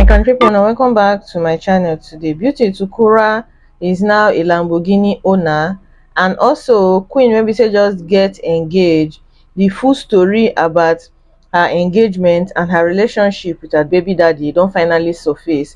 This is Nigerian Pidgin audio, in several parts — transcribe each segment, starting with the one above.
my country people now welcome back to my channel today beauty tukura is now a lamborghini owner and also queen maybe say just get engaged the full story about her engagement and her relationship with her baby daddy don't finally surface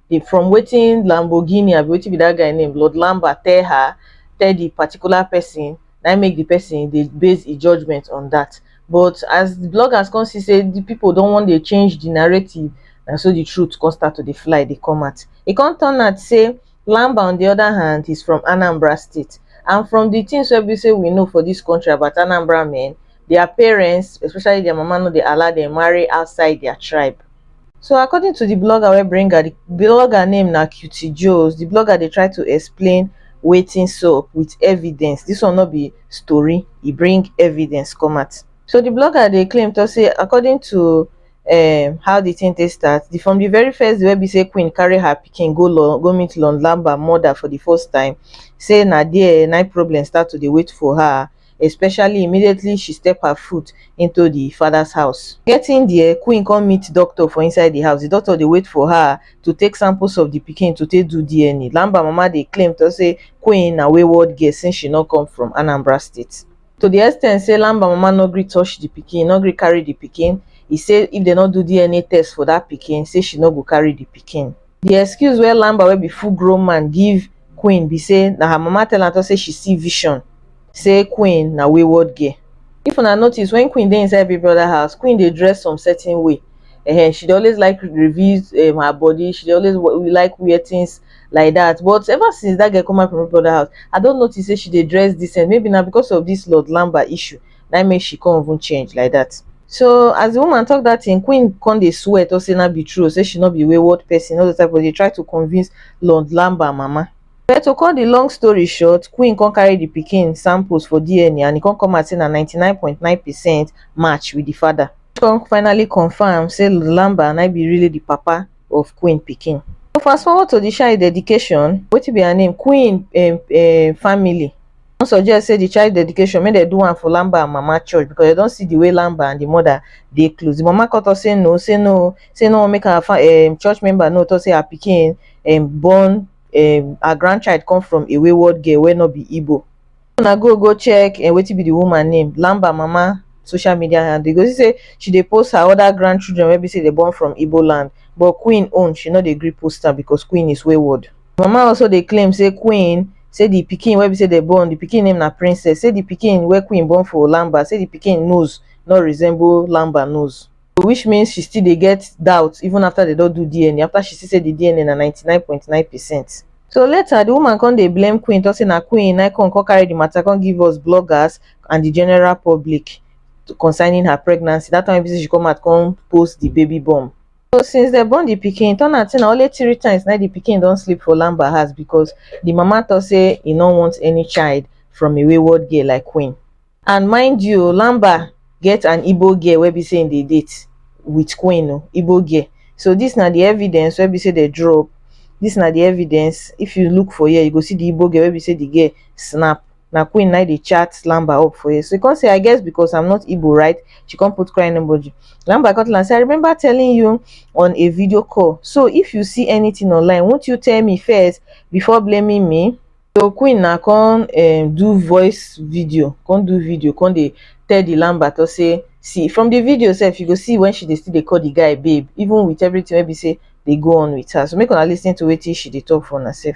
the from wetin Lamborghini abi wetin be that guy name Lord Lamba tell her tell the particular person na make the person dey base e judgement on that but as the bloggers come see say the people don wan dey change the narrative na so the truth come start to dey fly dey come out e come turn out say Lamba on the other hand is from Anambra state and from the things wey be say we know for this country about Anambra men their parents especially their mama no dey allow them marry outside their tribe So according to the blogger wey bring her, the blogger name na Cutie Joes. The blogger dey try to explain wetin sup with evidence. This one no be story, e bring evidence come out. So the blogger dey claim talk say according to um, how the thing take start, the, from the very first day wey be say Queen carry her pikin go lo, go meet Lon Lamba mother for the first time, say na there na problem start to dey wait for her. especially immediately she step her foot into di father's house. Getting there, Queen come meet doctor for inside di house. Di doctor dey wait for her to take samples of di pikin to take do DNA. Lamba mama dey claim to say Queen na wayward girl since she no come from Anambra State. To di extent say Lamba mama no gree touch di pikin, no gree carry di pikin, e say if dem no do DNA test for dat pikin, say she no go carry di pikin. Di excuse wey Lamba wey be full grown man give Queen be say na her mama tell am talk say she see vision say Queen na wayward girl. If una notice when Queen dey inside Big Brother house, Queen dey dress some certain way um she dey always like reveal um her body, she dey always like wear things like that but ever since that girl come out from Big Brother house, I don notice say she dey dress decent maybe na because of this Lord Lamba issue na im make she come even change like that. So as the woman talk that thing, Queen come dey swear to say na be true, say she no be wayward person, all the time but dey try to convince Lord Lamba mama. But to cut the long story short, Queen come carry the pikin samples for DNA and e come come out say na 99.9 percent match with the father. Come finally confirm say Lord Lamba na im be really the papa of Queen pikin. So fast forward to the child dedication, wetin be her name, Queen um um family. don suggest say the child dedication make dem do am for Lamba and Mama church because dem don see the way Lamba and the mother dey close. The mama come talk say no, say no, say no make her um, church member no talk say her pikin um, born um, her grandchild come from a wayward girl wey no be Igbo. Una go go check um, wetin be the woman name, Lamba Mama social media handle. You go see say she dey post her other grandchildren wey be say dey born from Igbo land but Queen own she no dey gree post am because Queen is wayward. di mama also dey claim say queen say di pikin wey be say dem born di pikin name na princess say di pikin wey queen born for lamba say di pikin nose no resemble lamba nose so which means she still dey get doubt even afta dem don do dna afta she see say di dna na ninety nine point nine percent so later di woman come dey blame queen tok say na queen na come come carry di mata come give us bloggers and di general public concerning her pregnancy dat time wey be say she come out come post di baby bump. So since dem born the pikin, turn out say na only three times na the pikin don sleep for Lamba house because the mama talk say he no want any child from a wayward girl like Queen. And mind you, Lamba get an Igbo girl wey be say im dey date with Queen o, Igbo girl. So this na the evidence wey be say they drop. This na the evidence. If you look for here, you go see the Igbo girl wey be say the girl snap na queen na dey chat lamba up for here so he come say i guess because i'm not igbo right she come put crying emoji lamba come tell am say i remember telling you on a video call so if you see anything online won't you tell me first before blaming me so queen na come um, do voice video come do video come dey tell the lamba to say see from the video sef you go see when she dey still dey call the guy babe even with everything wey be say dey go on with her so make una lis ten to wetin she dey talk for una sef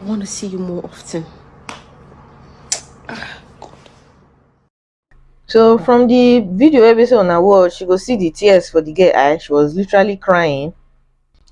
I want to see you more often. Ah, God. So from the video episode on her watch, you go see the tears for the girl eye. She was literally crying.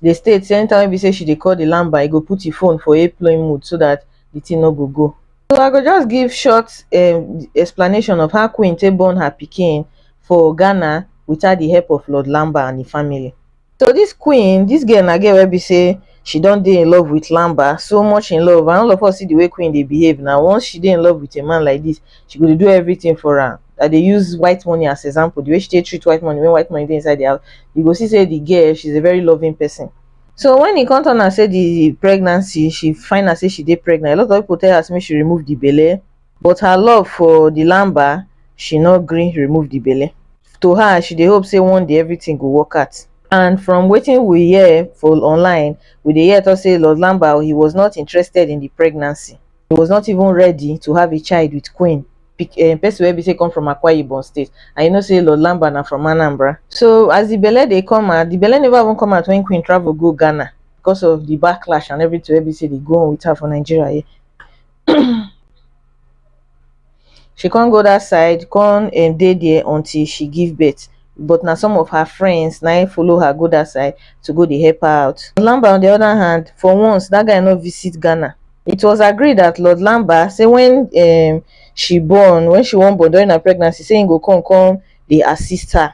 The state same time we say she dey call the lamba, e go put the phone for airplane mode so that the thing no go go. So I go just give short um, explanation of how Queen take born her pikin for Ghana without the help of Lord Lamba and the family. So this queen, this girl na girl wey be say she don dey in love with Lamba, so much in love and all of us see the way queen dey behave now. Once she dey in love with a man like this, she go dey do everything for am. I dey use white money as example, the way she take treat white money when white money dey inside the house, you go see say the girl, she's a very loving person. So when e come turn am say the pregnancy, she find out say she dey pregnant, a lot of people tell her say make she remove the belle, but her love for the lamba she no gree remove the belle to her she dey hope say one day everything go work out and from wetin we hear for online we dey hear talk say lord lamba he was not interested in the pregnancy he was not even ready to have a child with queen pic- um, person wey be say come from akwa ibom state and you know say lord lamba na from anambra so as the belle dey come out the belle never even come out when queen travel go ghana because of the backlash and everything wey be say dey go on with her for nigeria here she come go that side come um dey there until she give birth but na some of her friends na im follow her go that side to go dey help her out. Lamba on the other hand, for once, that guy no visit Ghana. It was agreed that Lord Lamba say when um she born, when she wan born during her pregnancy, say he go come come dey assist her.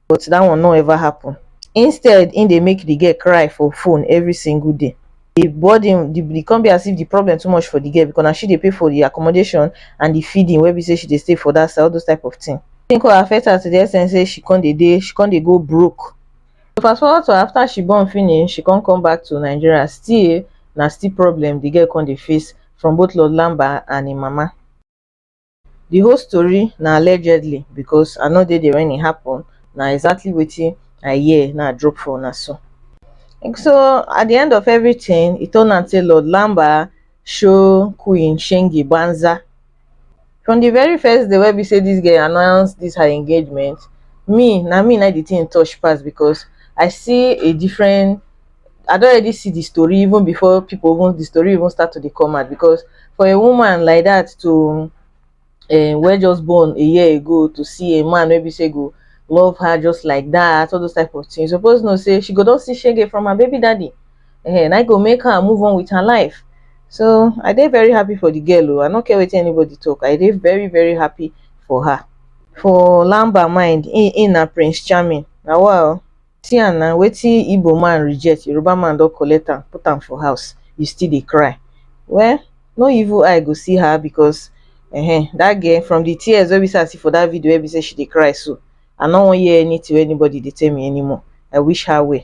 but dat one no ever happun instead im dey make di girl cry for phone evri single day di burden e come be as if di problem too much for di girl because na she dey pay for di accommodation and di feeding wey be say she dey stay for dat side all those type of tin e come affect her to di ex ten t say she come dey dey she come dey go broke fast forward to afta she born finish she come come back to Nigeria still na still problem di girl come dey face from both Lord Lamba and im mama. The whole story na allegedly because I no dey there when e happen. Na exactly wetin I hear na I drop for una so. So at the end of everything, e turn out say Lord Lamba show Queen Shengi Banza. From the very first day wey be say this girl announce this her engagement, me na me na the thing touch pass because I see a different I don already see the story even before people even the story even start to dey come out because for a woman like that to uh, wey just born a year ago to see a man maybe say go love her just like that all those type of things suppose know say she go don see shege from her baby daddy uh, and i go make her move on with her life so i dey very happy for the girl o oh. i no care wetin anybody talk i dey very very happy for her for lamba mind in in na prince charming na wow See am na wetin Igbo man reject Yoruba man don collect am put am for house you still dey cry well no evil eye go see her because um that girl from the tears wey be say I see for that video wey be say she dey cry so I no wan hear anything wey anybody dey tell me anymore I wish her well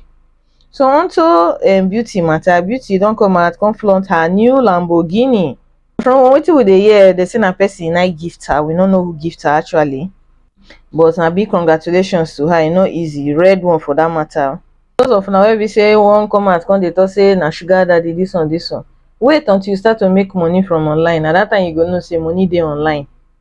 so unto um beauty matter beauty don come out come flaunt her new Lamborghini From wetin we dey hear, dem say na person na gift her, we no know who gift her actually but na big congratulations to her, e no easy, red one for that matter. Those of una wey be say wan come out come dey talk say na sugar daddy this one this one, wait until you start to make money from online, na that time you go know say money dey online.